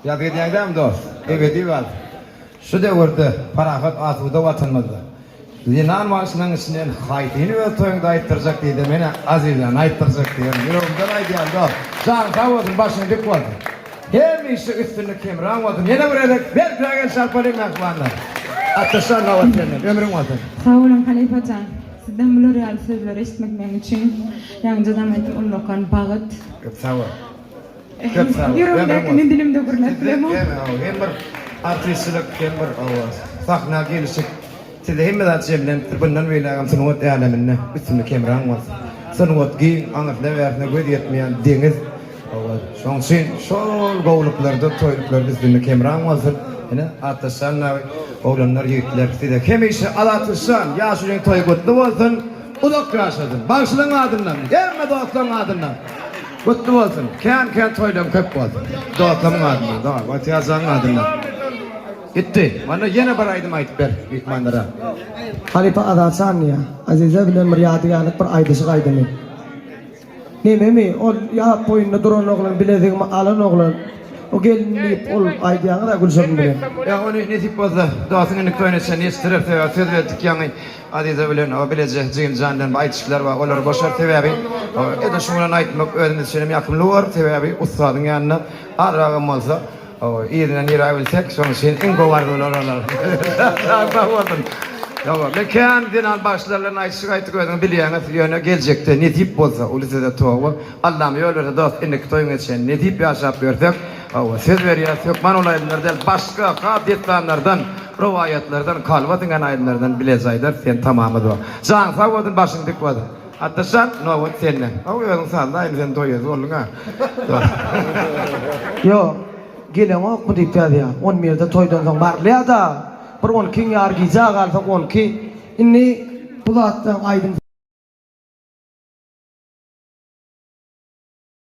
Ýat edýäňdämi, dost? Ebedi gal! Şu döwürde parahat, asuda Watanymyzda zenan bagşynyň içinden haýsyny öz toýuňda aýtdyrjak diýse, men-ä Azizjany aýtdyrjak diýýän. Ýüregimden aýdýan, dost! Janyň sag bolsun, başyň dik bolsun! Hemişe üstünlik hemraň bolsun! Ýene bir gezek berkräk el çarpaliň, mähribanlar! Atdaşlar nobat sende! Ömrüň bolsun! Sag boluň, halypa jan! Sizden bular ýaly sözleri eşitmek meň üçin ýaňyjadam aýtdym, ullakan bagyt. Köp sag bol! Köp sag bol. Ýüregimdäkini dilimde gürläp bilemok. Siz hem hawa hem bir artistçilik hem bir hawa sahna gelişik sizde hemme zat jemlenipdir bundan beýlägem sungat äleminde üstünlik hemraň bolsun. Sungat giň aňyrsna bärsine göz ýetmeýän deňiz hawa şoň üçin şol gowluklarda toýluklarda üstünlik hemraň bolsun ine Atdaşjan nabi oglanlar ýigitler size hemişe Adatlyşjan ýaşulyň toýy gutly bolsun uzak ýaşasyn bagşylaň adyndan hemme dostlaň adyndan. Gutly bolsun kän kän toýlaň köp bolsun dostlarmyň adyndan da watýajaň adyndan gitdi mana ýene bir aýdym aýdyp ber myhmanlara halypa azat şanlyja aziza bilen bir ýadygärlik bir aýdyşyk aýdymy nememi ol ýap boýunda duran oglan bilezigimi alan oglan o gelin diýip ol aýdýaňyz a gülşirin bilen ýa ony nesip bolsa dostun indi toýuna çenli ýetişdirer sebäbi söz berdik ýaňy. Aziza bilen o bileje jigimjan bilen bir aýdyşdylar we olar boşar sebäbi edil şu bilen aýtmak özümiz üçin hem ýakymly bolar sebäbi ussadyň ýanyna azrak hem bolsa yzyna nirä bilsek şonuň üçin iň gowy arzuwlar olar sag sag bolsun ýoga men kän zenan bagşylar bilen aýdyşyk aýtdyk özüňiz bilýäňiz ýöne geljekde nesip bolsa uly söze toba Allam ýol berse dost indiki toýuňa çen nesip ýaşap ýörsek söz berýäs hökman ol aýdymlar däl başga has detdanlardan. Rowaýatlardan kalba siňen aýdymlardan bileje aýdar sen tamamy zor. Janyň sag bolsun başyň dik bolsun. Atdaşjan nobat sende. Haw özüň sazla aýdym sen toýez bolduňa. Ýok, geleňokmy diýip ýazýa. On birde toýdan soň barylýada. Bir on ikiň ýar gijä galsa on iki. Indi bu zatdan aýdym.